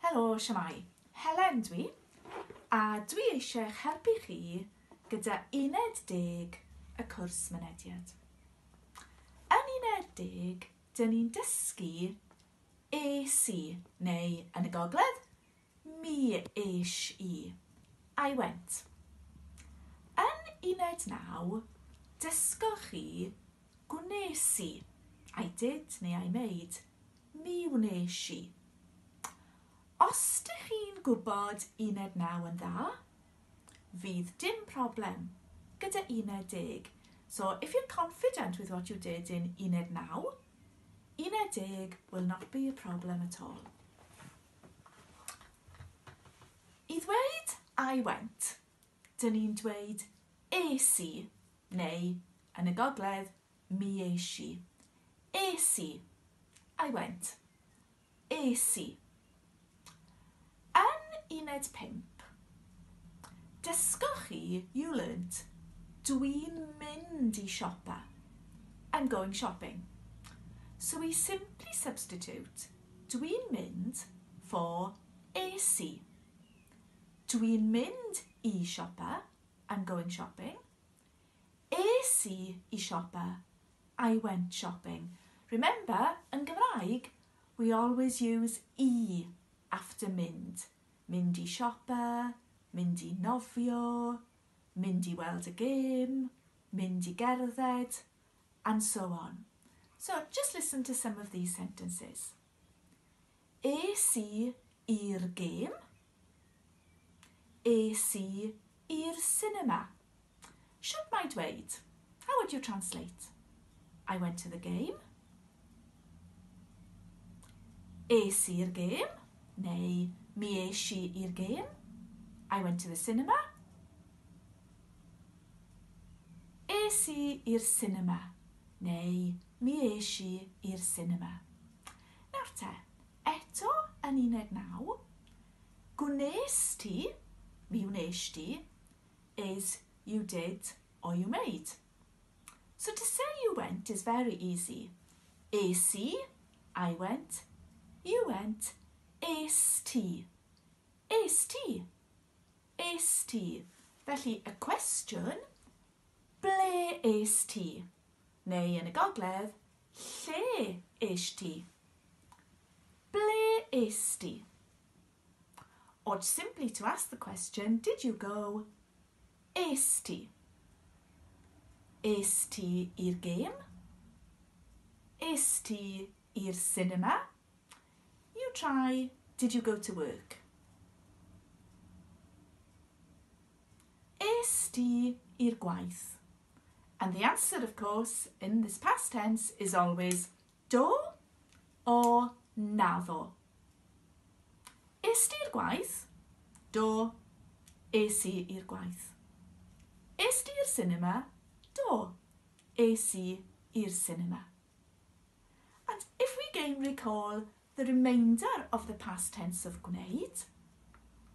Helo, siamai. Helen dw i, a dw i eisiau'ch helpu chi gyda uned deg y cwrs mynediad. Yn uned deg, dyn ni'n dysgu es i, neu yn y gogledd, mi es i, I went. Yn uned naw, dysgoch chi gwnes i, I did neu I made, Mi wnes i. Os dych chi'n gwybod uned naw yn dda, fydd dim problem gyda uned deg. So if you're confident with what you did in uned naw, uned deg will not be a problem at all. I ddweud I went, dyn ni'n dweud es i, neu yn y gogledd, Mi es i. Es i. I went. Es i. Yn uned pump, dysgoch chi, you learnt, dwi'n mynd i siopa, I'm going shopping. So we simply substitute dwi'n mynd for es i. Dwi'n mynd i siopa, I'm going shopping. Es i i siopa, I went shopping. Remember, yn Gymraeg, we always use i after mynd, mynd i siopa, mynd i nofio, mynd i weld y gêm, mynd i gerdded, and so on. So just listen to some of these sentences. Es i i'r gêm. Es i i'r sinema. Shwt mae dweud? How would you translate? I went to the game. Es i'r gêm. Neu mi es i i'r gêm. I went to the cinema. Es i i'r sinema. Neu Mi es i i'r sinema. Nawr te, eto yn un deg naw, gwnes ti, mi wnes di, is you did or you made. So to say you went is very easy. Es i, I went, you went, es ti. Es ti. Es ti. Felly y cwestiwn, ble es ti? Neu yn y gogledd, Lle es ti? Ble es di? Or simply to ask the question, did you go? Es ti? Es ti i'r gêm? Es ti i'r sinema? You try, did you go to work? Est ti i'r gwaith? And the answer, of course, in this past tense is always do or naddo. Est ti i'r gwaith? Do, es i i'r gwaith. Est ti i'r cinema? Do, es i i'r cinema. And if we gain recall The remainder of the past tense of gwneud,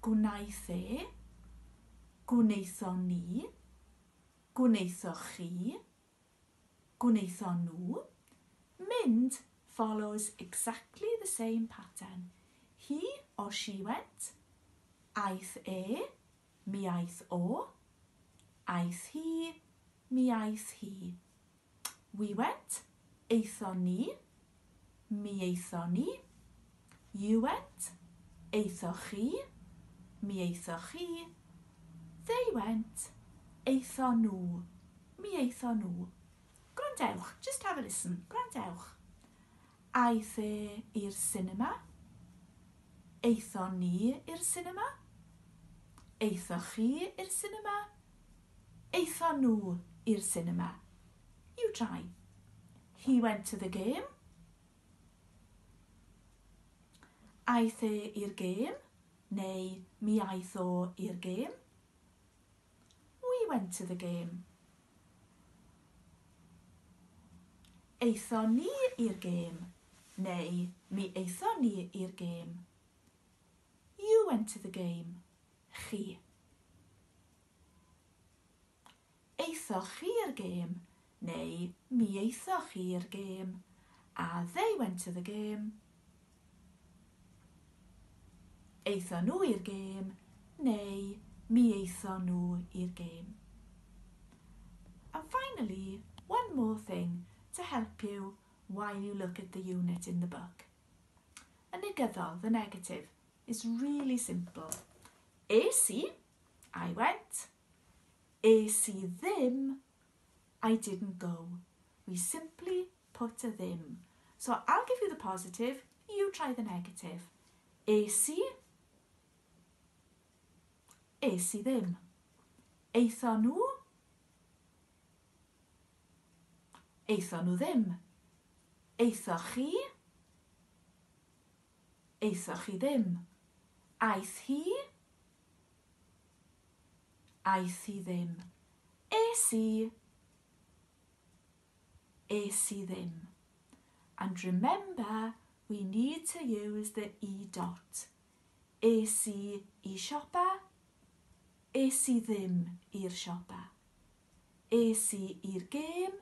gwnaeth e, gwnaethon ni, gwnaethoch chi, gwnaethon nhw, mynd follows exactly the same pattern, he or she went, aeth e, mi aeth o, aeth hi, mi aeth hi. We went, aethon ni. Mi aethon ni. You went, aethoch chi. Mi aethoch chi. They went, aethon nhw. Mi aethon nhw. Gwrandewch, just have a listen, gwrandewch. Aeth e i'r sinema? Aethon ni i'r sinema? Aethoch chi i'r sinema? Aethon nhw i'r sinema? You try. He went to the game. Aeth e i'r gêm? Neu mi aeth o i'r gêm? We went to the game. Aethon ni i'r gêm neu Mi aethon ni i'r gêm. You went to the game. Chi. Aethoch chi i'r gêm Neu mi aethoch chi i'r gêm. A they went to the game. Aethon nhw i'r gêm. Neu mi aethon nhw i'r gêm. And finally, one more thing to help you while you look at the unit in the book. Y negyddol, the negative, is really simple. Es i, I went. Es i ddim, I didn't go. We simply put a ddim. So I'll give you the positive, you try the negative. Es i? Es i ddim. Eitho nhw? Eitho nhw ddim. Eitho chi? Eitho chi ddim. Aeth hi? Aeth i ddim. Es i. Es i ddim. And remember we need to use the i dot. Es i i siopa. Es i ddim i'r siopa. Es i i'r gêm.